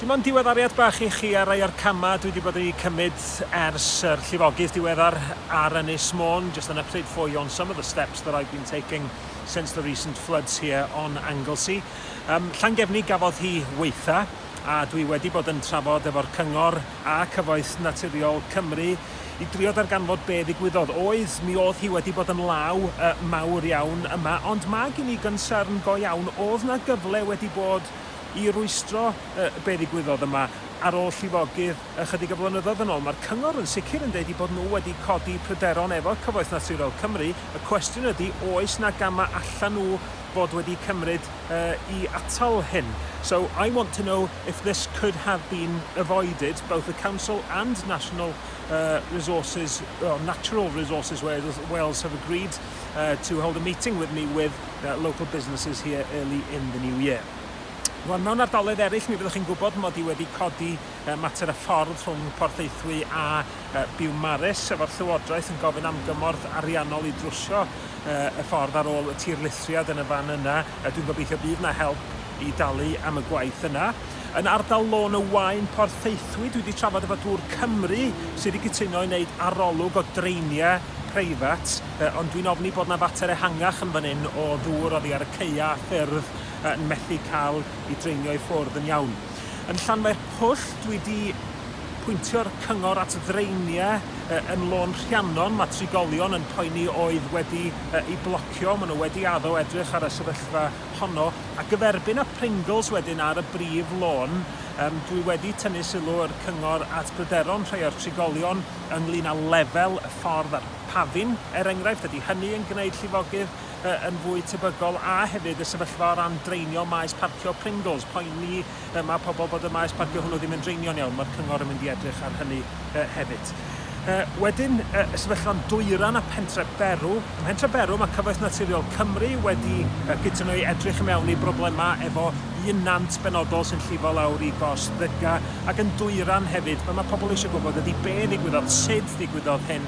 Dim ond diweddariad bach i chi ar rai o'r camau dwi wedi bod yn eu cymryd ers yr llifogydd diweddar ar Ynys Môn, just on a pryd ffoi on some of the steps that I've been taking since the recent floods here on Anglesey. Um, Llangefni gafodd hi weitha, a dwi wedi bod yn trafod efo'r cyngor a Cyfoeth Naturiol Cymru i drio darganfod be ddigwyddodd. Oedd, mi oedd hi wedi bod yn law uh, mawr iawn yma, ond mae gen i gynsarn go iawn, oedd na gyfle wedi bod i rwystro yy be ddigwyddodd yma ar ôl llifogydd ychydig o flynyddoedd yn ôl. Mae'r cyngor yn sicr yn deud eu bod nhw wedi codi pryderon efo Cyfoeth Naturiol Cymru. Y cwestiwn ydy, oes 'na gamau allan nhw fod wedi cymryd yy i atal hyn? So I want to know if this could have been avoided, both the council and National uh, Resources, or Natural Resources Wales, Wales have agreed uh, to hold a meeting with me with the local businesses here early in the new year. Rwan, mewn ardaloedd eraill, mi fyddwch chi'n gwybod mod i wedi codi uh, mater y ffordd rhwng Porthaethwy a uh, Biwmaris, efo'r Llywodraeth yn gofyn am gymorth ariannol i drwsio uh, y ffordd ar ôl y tir lithriad yn y fan yna. Uh, Dwi'n gobeithio bydd yna help i dalu am y gwaith yna. Yn ardal Lôn y Wain, Porthaethwy, dwi wedi trafod efo Dŵr Cymru sydd wedi cytuno i wneud arolwg o dreiniau preifat Yy, ond dwi'n ofni bod 'na fater ehangach yn fan 'yn o ddŵr oddi ar y caeau a ffyrdd yy yn methu cael i dreinio i ffwrdd yn iawn. Yn Llanfair Pwll, dwi 'di pwyntio'r cyngor at ddraeniau yy yn Lôn Rhiannon, ma' trigolion yn poeni oedd wedi yy 'u blocio, ma' nhw wedi addo edrych ar y sefyllfa honno, a gyferbyn â Pringles wedyn ar y brif lôn, yym dwi wedi tynnu sylw yr cyngor at bryderon rhai o'r trigolion ynglŷn â lefel y ffordd a'r Pavin, er enghraifft, ydy hynny yn gwneud llifogydd yn fwy tebygol a hefyd y sefyllfa o ran draenio maes parcio Pringles, poeni y mae pobl bod y maes parcio hwnnw ddim yn draenio'n iawn, mae'r cyngor yn mynd i edrych ar hynny hefyd. Wedyn, y sefyllfa'n dwyran a Pentre Berw. Ym Mhentre Berw mae Cyfoeth Naturiol Cymru wedi cytuno i edrych i mewn i broblemau efo un nant benodol sy'n llifo lawr i gors Ddyga ac yn dwyran hefyd. Be mae pobl eisiau gwybod ydy be ddigwyddodd, sut ddigwyddodd hyn,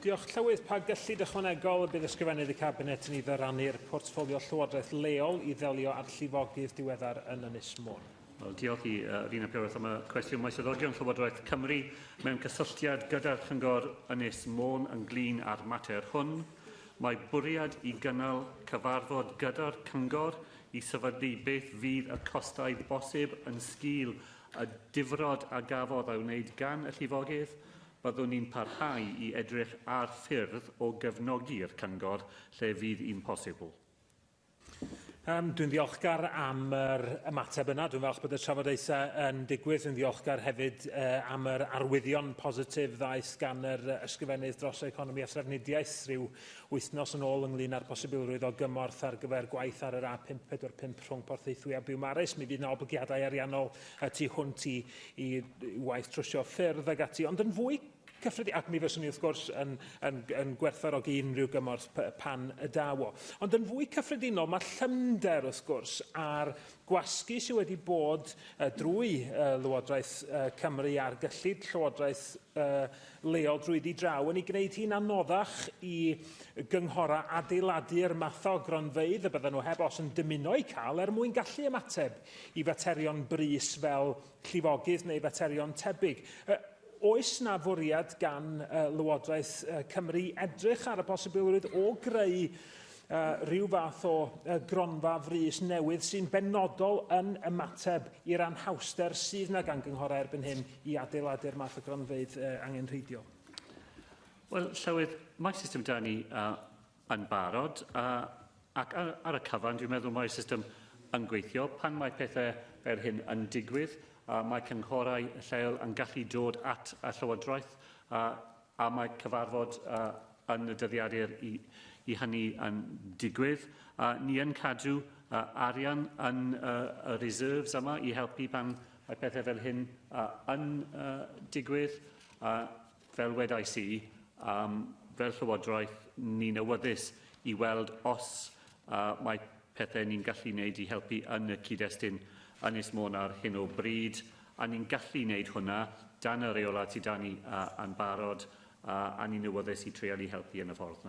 Diolch, Llywydd. Pa gyllid ychwanegol y bydd Ysgrifennydd y Cabinet yn ei ddyrannu'r portffolio Llywodraeth Leol i ddelio â'r llifogydd diweddar yn Ynys Môn? Wel, diolch i uh, Rina Pyrrhus am y cwestiwn. Mae swyddogion Llywodraeth Cymru mewn cysylltiad gyda'r Cyngor Ynys Môn ynglyn â'r mater hwn. Mae bwriad i gynnal cyfarfod gyda'r Cyngor i sefydlu beth fydd y costau bosib yn sgil y difrod a gafodd ei wneud gan y llifogydd. Byddwn ni'n parhau i edrych ar ffyrdd o gefnogi'r Cyngor lle fydd yn posibl. Um, dwi'n ddiolchgar am yr ymateb yna. Dwi'n falch bod y trafodaethau yn digwydd. Dwi'n ddiolchgar hefyd uh, am yr arwyddion positif ddaeth gan yr ysgrifennydd dros economi a thrafnidiaeth rhyw wythnos yn ôl ynglyn â'r posibilrwydd o gymorth ar gyfer gwaith ar yr A545 rhwng Porthaethwy a Biwmaris. Mi fydd yna oblygiadau ariannol y tu hwnt i, i waith trwsio ffyrdd ag ati, ond yn fwy cyffredin, ac mi fyswn i wrth gwrs yn, yn, yn gwerthfarogi unrhyw gymorth pan y daw o. Ond yn fwy cyffredinol, mae llymder wrth gwrs a'r gwasgu sydd wedi bod uh, drwy uh, Lywodraeth uh, Cymru a'r gyllid Llywodraeth uh, leol drwy di draw yn ei gwneud hi'n anoddach i gynghorau adeiladu'r math o gronfeydd y bydden nhw heb os yn dymuno eu cael er mwyn gallu ymateb i faterion brys fel llifogydd neu faterion tebyg. Uh, oes na fwriad gan uh, Lywodraeth uh, Cymru edrych ar y posibilrwydd o greu uh, rhyw fath o uh, gronfa frys newydd sy'n benodol yn ymateb i'r anhawster sydd na gan gynghorau erbyn hyn i adeiladu'r math o gronfeydd uh, angenrheidiol? Wel, Llywydd, mae system da ni uh, yn barod a, ac ar, ar y cyfan dwi'n meddwl mae'r system yn gweithio. Pan mae pethau fel hyn yn digwydd, a mae cynghorau lleol yn gallu dod at y Llywodraeth a, a mae cyfarfod a, yn y dyddiadur i, i hynny yn digwydd. A, ni yn cadw a, arian yn a, y reserves yma i helpu pan mae pethau fel hyn a, yn a, digwydd. A, Fel wedais i, um, fel Llywodraeth, ni'n awyddus i weld os uh, mae pethau ni'n gallu wneud i helpu yn y cyd-destun Ynys Môn ar hyn o bryd, a ni'n gallu wneud hwnna dan y reolau sydd dan ni uh, yn barod, uh, a ni'n awyddus i treialu helpu yn y ffordd yna.